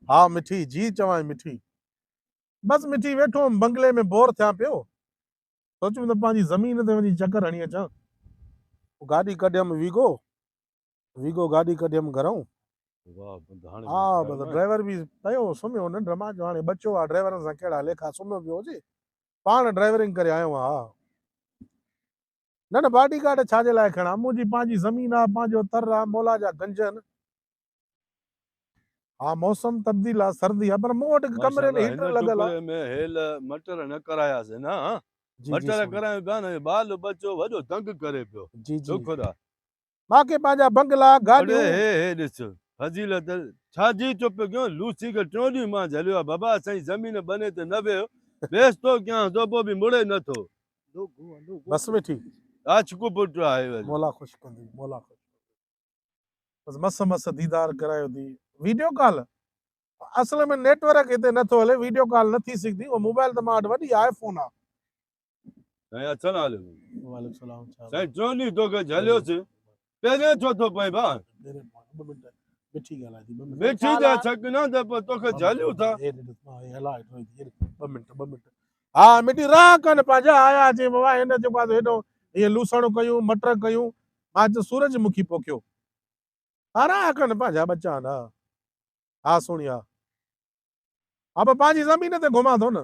ها مٺي، جي چوانء مٺي. بس مٺي ويٺو هئم بنگلي ۾ بور ٿيان پيو، سوچيم ته پنهنجي زمين تي وڃي چڪر هڻي اچان. گاڏي ڪڍيم ويگو، ويگو گاڏي ڪڍيم گهرائون. ها بس ڊرائيور به پيو سمهيو ننڊ مان جو هاڻي ٻچو آ ڊرائيورن سان ڪهڙا ليکا سمهيو پيو هجي. پاڻ ڊرائيورنگ ڪري آيو هان. نه نه باڊي گارڊ ڇا جي لاء کڻان، منهنجي پنهنجي زمين آ، پنهنجو تر آ، مولا جا گنج ان. ها موسم تبديل آ، سردي آ پر مون وٽ هڪ ڪمري ۾ هيٽر لڳل آ. ماشاءالله هن ٽڪري ۾ هيل مٽر نه ڪراياسين نه ها مٽر ڪرايون ڪانه بال ٻچو وڏو تنگ ڪري پيو شڪر آ مان کي پنهنجا بنگلا، گاڏيون. هڙي هي هي ڏس فضيلت ڇا جي ٿو پيو ڪيون لوسي کي ٽيون ڏينهن مان جهليو آهي بابا اسانجي زمين ٻني تي نه ويهه ويس ٿو ڪيانس ٿو پوء به مڙي نه ٿو. بس ويٺي. ڪاڇڪو پٽ آهي وري. مولا خوش ڪندي مولا خوش ڪندي بس مس مس ديدار ڪرايو ٿي ويڊيو ڪال اصل ۾ نيٽ ورڪ هتي نه ٿو هلي ويڊيو ڪال نه ٿي سگهندي اهو موبائل ته مان وٽ وڏي آء فون آ سائين اچن حال ۾ وعليڪم السلام سائين ٽروني توکي جهليو سي پهرين ڇو ٿو پئين ڀا مٺي ڳالهائي ٿي مٺي ته ڇڪ نه ته پر توکي جهليون ٿا ٻه منٽ ٻه منٽ ها مٺي راء ڪن پنهنجا آيا جي بابا هن جيڪو آ هيڏو هي لوسڻ ڪيون مٽر ڪيون مان چيو سورج مکي پوکيو ها راء ڪن پنهنجا ٻچا نه ها سوڻيا ها پر پنهنجي زمين تي گهمان ٿو نه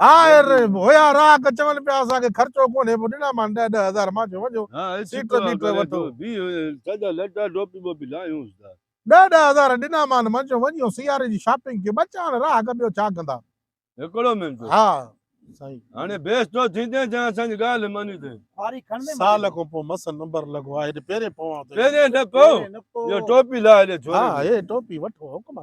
آهر رحيم هيا راهه ڪ چون پيا اسان کي خرچو ڪونهي پو ڏنا مان ڏهه ڏهه هزار مان چيو وڃو سيٽر بيٽر وٺو سڄا لٽا ٽوپي ٻوپي لاهيونس ٿا ڏهه ڏهه هزار ڏنا مان مان چيو وڃو سياري جي شاپنگ ڪي ٻچا هاڻي راهه ڪ ٻيو ڇا ڪندا هڪڙو منٽ ها سائين هاڻي بيس تو ٿيندين جا اسان جي ڳالهه ماني ٿي واري کڻ ۾ سال کون پو مس نمبر لڳو آ هيڏي پهرين پوان ٿو پهرين نه پو جو ٽوپي لاهي ڏي ٿوري ها هي ٽوپي وٺو حڪم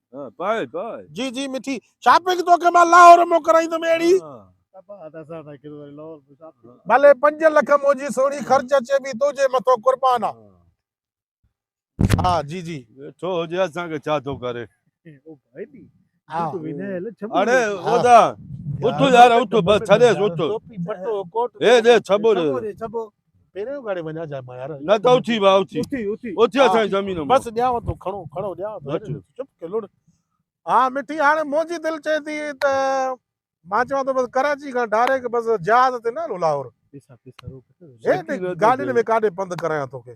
جي جي مٺي شاپنگ توکي مان لاهور مون ڪرائيندم اهڙي ڀلي پنج لک منهنجي سهڻي خرچ اچي به تنهنجي مٿو قربان آ ها جي جي ويٺو هجي اسان کي ڇا ٿو ڪري اڙي اودا اٿو يار اٿو بس ڇڏيس اٿو هي دي ڇبو ري پهريون گاڙي وڃا جا مايار نه ته اٿي وا اٿي اٿي اٿي اٿي اسا زمين ۾ بس ڏيا تو کڻو کڻو ڏيا تو چپ ڪي لڙ ها مٺي هاڻي منهنجي دل چي ٿي ته مان چوان ٿو بس ڪراچي کان ڊائريڪٽ بس جهاز تي نه هلو لاهور گاڏين ۾ ڪاڏي پنڌ ڪرايان توکي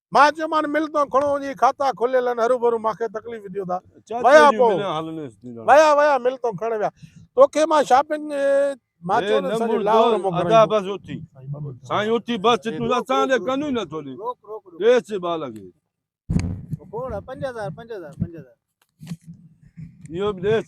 مان چيومان مل تون کڻو وڃي کاتا کليل آهن هروڀرو مان کي تڪليف ڏيو ٿا ويا پو ويا ويا مل تون کڻڻ ويا توکي مان شاپنگ مان چيو نه سڄي لاهور موڪلي ادا بس اٿي سائين اٿي بس تون اسان دي ڪن ئي نه ٿو ڏي روڪ روڪ ڏيس جي با لڳي کوڙ 5000 5000 5000 ايو به ڏيس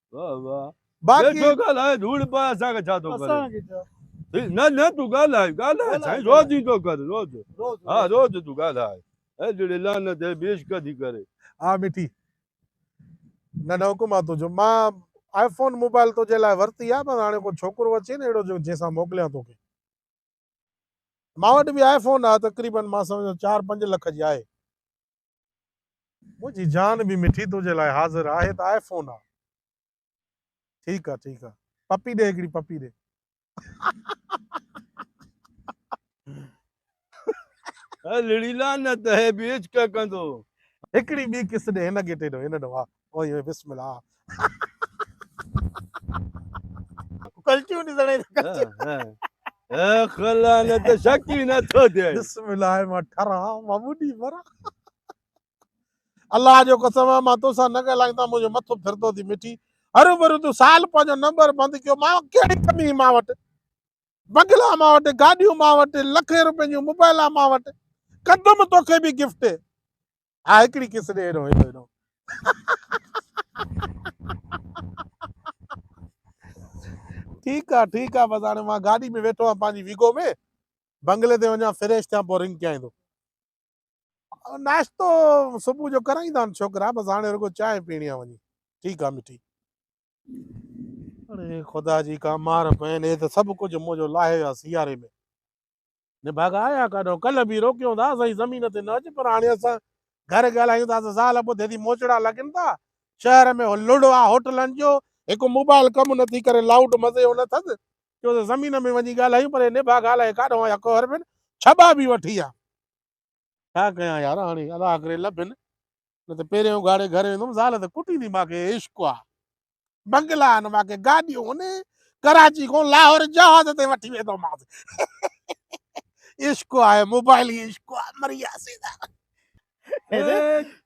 واھ واھ باقي ڇو ڳالهائي ڌوڙ پاء اسان کي ڇا ٿو ڪري اسان کي ڇا نه نه تون ڳالهائي ڳالهائي سائين روز جي ٿو ڪر روز ها روز تون ڳالهائي اي جڙي لعنت اي بيش ڪدي ڪري ها مٺي نه نه حڪم آ تو جو ما آئي فون موبائل تو جي لاء ورتي آ بس هاڻي ڪو ڇوڪرو اچي نه اهڙو جو جنهن سان موڪليان تو کي ما وٽ به آئي فون آ تقريبن ما سمجهان 4 5 لک جي آهي منهنجي جان به مٺي تنهنجي لاء حاضر آهي ته آء فون آ. ٺيڪ آ ٺيڪ آ پپي ڏي هڪڙي پپي ڏي. هي لڙي لعنت هي به عشق ڪندو. هڪڙي ٻي ڪس ڏي هن گيٽي ڏو هن ڏو آ. اوهي اوهي بسم الله ڪلچيون ڏسڻ اي ته ڪلچيون اي خلا نه ته شڪ ئي نه ٿو ٿئي بسم الله مان ٺرا مان ٻڏي مرا الله جو قسم آ مان توسان نه ڳالهايان ته منهنجو مٿو ڦرندو ٿي مٺي هر عمر تو سال پنهنجو نمبر بند ڪيو مان ڪهڙي ڪمي مان وٽ بنگلا مان وٽ گاڏيون مان وٽ لکين روپين جون موبائلا مان وٽ ڪندم توکي به گفٽ ها هڪڙي ڪس ڏي هيڏهون هيڏو هيڏهون ٺيڪ آ ٺيڪ آ بس هاڻي مان گاڏي ۾ ويٺو آهيان پنهنجي ويگو ۾ بنگلي تي وڃان فريش ٿيان پوء رنگ ڪيائين ٿو ناشتو صبح جو ڪرائين ٿا ڇوڪرا بس هاڻي رڳو چانهه پيڻي آ وڃي ٺيڪ آ مٺي اڙي خدا جي ڪا مار پين هي ته سڀ ڪجهه منهنجو لاهي ويا سياري ۾ نڀاڳا آيا ڪاڏهو؟ ڪلهه به روڪيون ٿا سائين زمين تي نه اچ پر هاڻي اسان گهر ڳالهايون ٿا ته زال ٻڌي ٿي موچڙا لڳن ٿا شهر ۾ هو لڙ آ هوٽلن جو هڪ موبائل ڪم نه ٿي ڪري لائوڊ مزي جو نه ٿڌ چيو ته زمين ۾ وڃي ڳالهايون پر هي نڀاڳا الائي ڪاڏهو آيا ڪوهر ۾ ڇٻا به وٺي آ. ڇا ڪيان يار هاڻي الله ڪري لڀين نه ته پهرين اگهاڙي گهر ويندم زال ته ڪٽيندي ماکي عشق آ بنگلا آهن ماکي گاڏيون آهن ڪراچي کان لاهور جهاز تي وٺي ويندومانس عشق آهي موبائل هي عشق آ مريا سيدا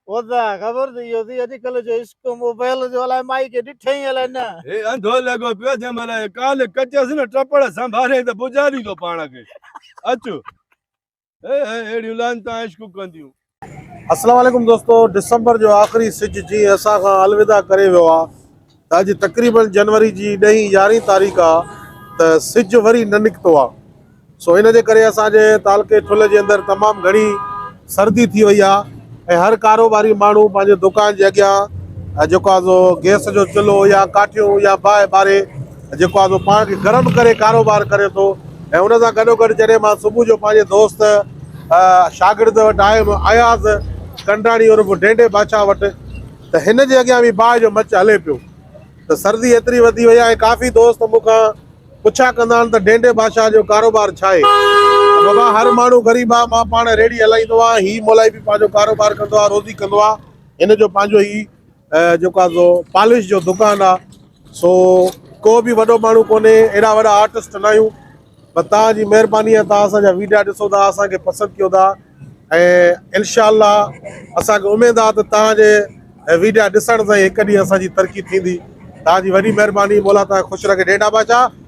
خدا خبر ٿي ويو ٿي اڄ ڪلهه جو عشق موبائل جو الاء مائي کي ڏٺئي الاء نه هي انڌو لڳو پيو جنهن مهل ڪال ڪچس نه ٽپڙ سنڀارين ته بجا ڏيندو پاڻ کي اچ اهڙيون لعنتان عشق ڪنديون. السلام عليڪم دوستو ڊسمبر جو آخري سج جي اسان کان الوداع ڪري ويو آ ته اڄ تقريبن جنوري جي ڏهين يارهين تاريخ آ ته سج وري نه نڪتو آ سو ان جي ڪري اسان جي تعلقي ٺل جي اندر تمام گهڻي سردي ٿي وئي آ ۽ هر ڪاروباري ماڻهو پنهنجي دڪان جي اڳيان جيڪو آ سو گيس جو چلهو يا ڪاٺيون يا باهه ٻاري جيڪو آهي سو پاڻ کي گرم ڪري ڪاروبار ڪري ٿو ۽ ان سان گڏوگڏ جڏهن مان صبح جو پنهنجي دوست شاگرد وٽ آيم اياز ڪنڊاڻي عرف ڍينڍي باچا وٽ ته هن جي اڳيان به باهه جو مچ هلي پيو ته سردي ايتري وڌي وئي آهي ڪافي دوست مون کان پڇا ڪندا آهن ته ڍينڍي باچا جو ڪاروبار ڇا آهي ته بابا هر ماڻهو غريب آهي مان پاڻ ريڙهي هلائيندو آهيان هي مولائي به پنهنجو ڪاروبار ڪندو آهي روزي ڪندو آهي هن جو پنهنجو ئي جيڪو آ سو پالش جو دڪان آ سو ڪو به وڏو ماڻهو ڪونهي ايڏا وڏا آرٽسٽ ناهيون بس توهان جي مهرباني آ توهان اسان جا ويڊيا ڏسو ٿا اسان کي پسند ڪيو ٿا ۽ انشاء الله اسان کي اميد آ ته توهان جي ويڊيا ڏسڻ سان هڪ ڏينهن اسان جي ترقي ٿيندي توهان جي وڏي مهرباني مولا توهان کي خوش رکي ڏيڍا بادشاهه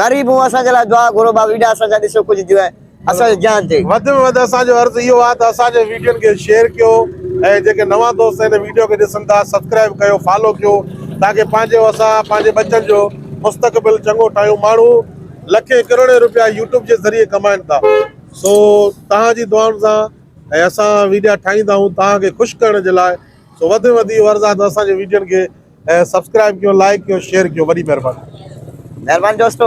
غريب مون اسان جي لاء دعا گهرو ڀاء ويڊا اسان جا ڏسيو ڪجهه جوئي اسان جي جان تي. وڌ ۾ وڌ اسان جو عرض اهو آ ته اسان جي ويڊيون کي شيئر ڪيو ۽ جيڪي نوان دوست هن ويڊيو کي ڏسن ٿا سبسڪرائيب ڪيو فالو ڪيو تاڪه پنهنجو اسان پنهنجي ٻچن جو مستقبل چڱو ٺاهيون ماڻهو لکين ڪروڙين روپيا يوٽيوب جي ذريعي ڪمائين ٿا سو توهان جي دعائن سان ۽ اسان ويڊيا ٺاهيندا آهيون توهان کي خوش ڪرڻ جي لاء سو وڌ ۾ وڌ اهو عرض آ ته اسان جي ويڊيون کي سبسڪرائب ڪيو لائڪ ڪيو شيئر ڪيو وڏي مھرباني. مھرباني دوستو.